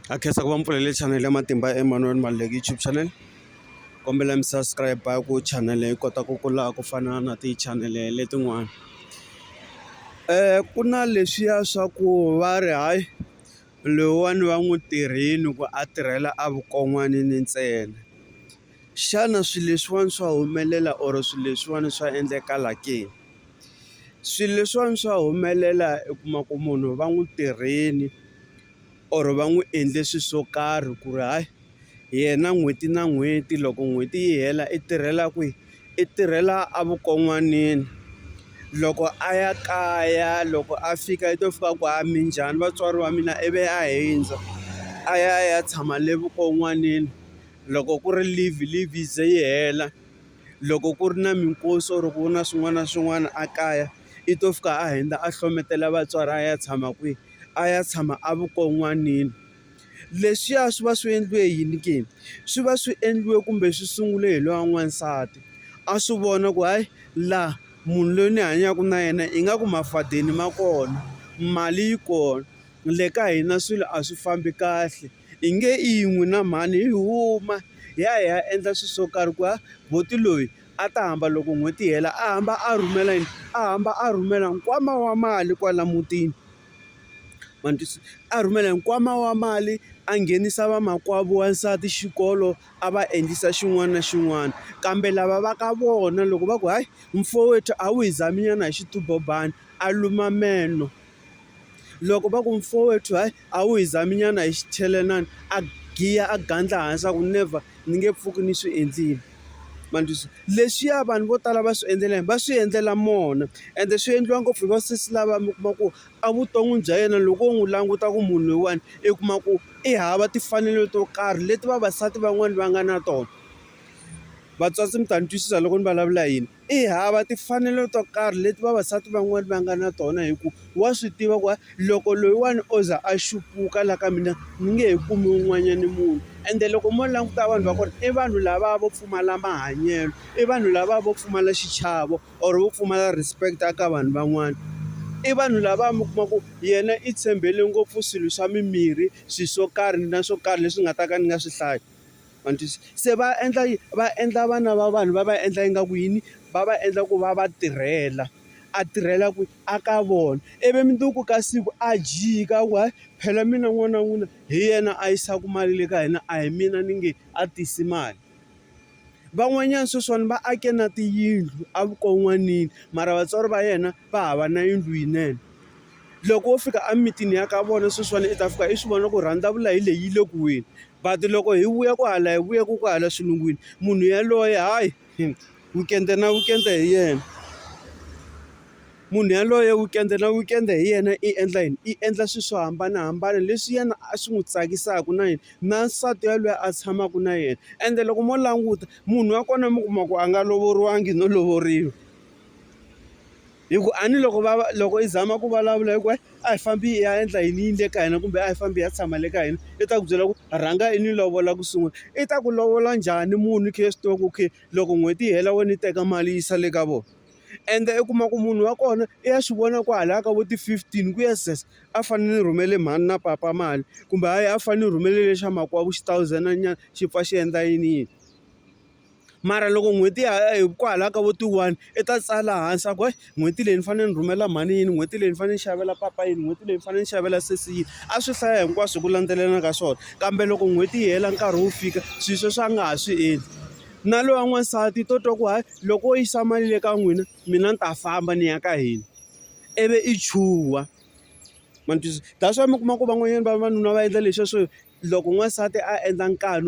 ha khensa ku va mi pfulele chanele ya matimba ya Emmanuel Maluleke YouTube channel kombela mi subscribe ku chanele yi kota ku kula ku fana na tichanele letin'wana ku na leswiya swa ku va ri hayi loyiwani va n'wi tirhini ku a tirhela a vukon'wanini ntsena. Xana swilo leswiwani swa humelela or swilo leswiwani swa endlekala ke? Swilo leswiwani swa humelela u kuma ku munhu va n'wi tirheni or va n'wi endle swilo swo karhi ku ri hayi yena n'hweti na n'hweti loko n'hweti yi hela i tirhela kwihi i tirhela a vukon'wanini loko a ya kaya loko a fika i to fika a ku hayi minjhani vatswari va mina ivi a hundza a ya a ya tshama le vukon'wanini. loko ku ri leave leave yi ze yi hela loko ku ri na minkosi or ku na swin'wana na swin'wana a kaya i to fika a hundza a hlohletela vatswari a ya tshama kwihi a ya tshama a vukon'wanini leswiya swi va swi endliwe yini ke swi va swi endliwe kumbe swi sungule hi loyi wa n'wansati a swi vona ku hayi laha munhu loyi ni hanyaka na yena i nga ku mafadeni ma kona mali yi kona le ka hina swilo a swi fambi kahle. Hi nge yin'we na mhani hi huma hi ya hi ya endla swilo swo karhi ku ya buti loyi a ta hamba loko n'hweti yi hela a hamba a rhumela yini a hamba a rhumela nkwama wa mali kwala mutini ma ni twisisa a rhumela hi nkwama wa mali a nghenisa vamakwavo wansati xikolo a va endlisa xin'wana na xin'wana kambe lava va ka vona loko va ku hayi mfowethu a wu hi zami nyana hi xitumbelelani a luma meno. Loko va ku mfowethu hayi a wu hi zaminyana hi xichelenani, a giya a gandla hansi a ku never ni nge pfuki ni swi endlile. Ma ni twisisa? Leswiya vanhu vo tala va swi endlela yini? Va swi endlela mona, ende swi endliwa ngopfu hi vasesi lava mi kuma ku evuton'wini bya yena loko wo n'wi languta ku munhu loyiwani i kuma ku i hava timfanelo to karhi leti vavasati van'wani va nga na tona. Vatswatsi mi ta ni twisisa loko ni vulavula yini. I hava timfanelo to karhi leti vavasati van'wani va nga na tona hi ku wa swi tiva ku loko loyiwani o za a xupuka la ka mina ni nge he kumi un'wanyani munhu ende loko mo languta vanhu va kona i vanhu lava vo pfumala mahanyelo i vanhu lava vo pfumala xichavo or vo pfumala respect a ka vanhu van'wani i vanhu lava mi kuma ku yena i tshembele ngopfu swilo swa mimirhi swi swo karhi na swo karhi leswi nga ta ka ni nga swi hlayi. ma ni twisisa se va endla va endla vana va vanhu va va endla ingaku yini va va endla ku va va tirhela a tirhela ku a ka vona ivi mundzuku ka siku a jika ku hayi phela mina n'wana wa n'wina hi yena a yisaka mali le ka hina a hi mina ni nge a tisi mali van'wanyana sweswiwani va ake na tiyindlu evukon'wanini mara vatswari va yena va hava na yindlu yinene. Loko wo fika emitini ya ka vona sweswiwani i ta fika i swi vona ku rhandzavula hi leyi yi le ku weni. But loko hi vuya ku hala hi vuya ku ku hala xilungwini, munhu yaloye hayi weekend-e na weekend-e hi yena. Munhu yaloye weekend-e na weekend-e hi yena i endla yini? I endla swilo swo hambanahambana leswi yena a swi n'wi tsakisaka na yena, na nsati yaloye a tshamaka na yena. Ende loko mo languta munhu wa kona mi kuma ku a nga lovoriwanga no lovoriwa. hi ku a ni loko va loko i zama ku vulavula hi ku a hi fambi i ya endla yini yini le ka hina kumbe a hi fambi hi ya tshama le ka hina i ta ku byela ku rhanga i ni lovola ku sungula i ta ku lovola njhani munhu i kha i swi tiva ku okay loko n'hweti yi hela wena yi teka mali yisa le ka vona ende i kuma ku munhu wa kona i ya swi vona kwalaya ka vo ti-fifteen ku ya sweswo a fanele ni rhumele mhani na papa mali kumbe hayi a fanele ni rhumele lexa makwavo xi thousand-nyana xi pfa xi endla yini yini. mara loko n'hweti ya hi kwalaho ka vo ti one i ta tsala hansi a ku heyi n'hweti leyi ni fanele ni rhumela mhani yini n'hweti leyi ni fanele ni xavela papa yini n'hweti leyi ni fanele ni xavela sesi yini a swi hlaya hinkwaswo hi ku landzelelana ka swona kambe loko n'hweti yi hela nkarhi wu fika swilo sweswo a nga ha swi endli na loyi wa n'wansati i to twa ku hayi loko wo yisa mali le ka n'wina mina ni ta famba ni ya ka hina ivi i chuha ma ni twisisa that's why mi kuma ku van'wanyana va vavanuna va endla leswiya swo loko n'wansati a endla nkani.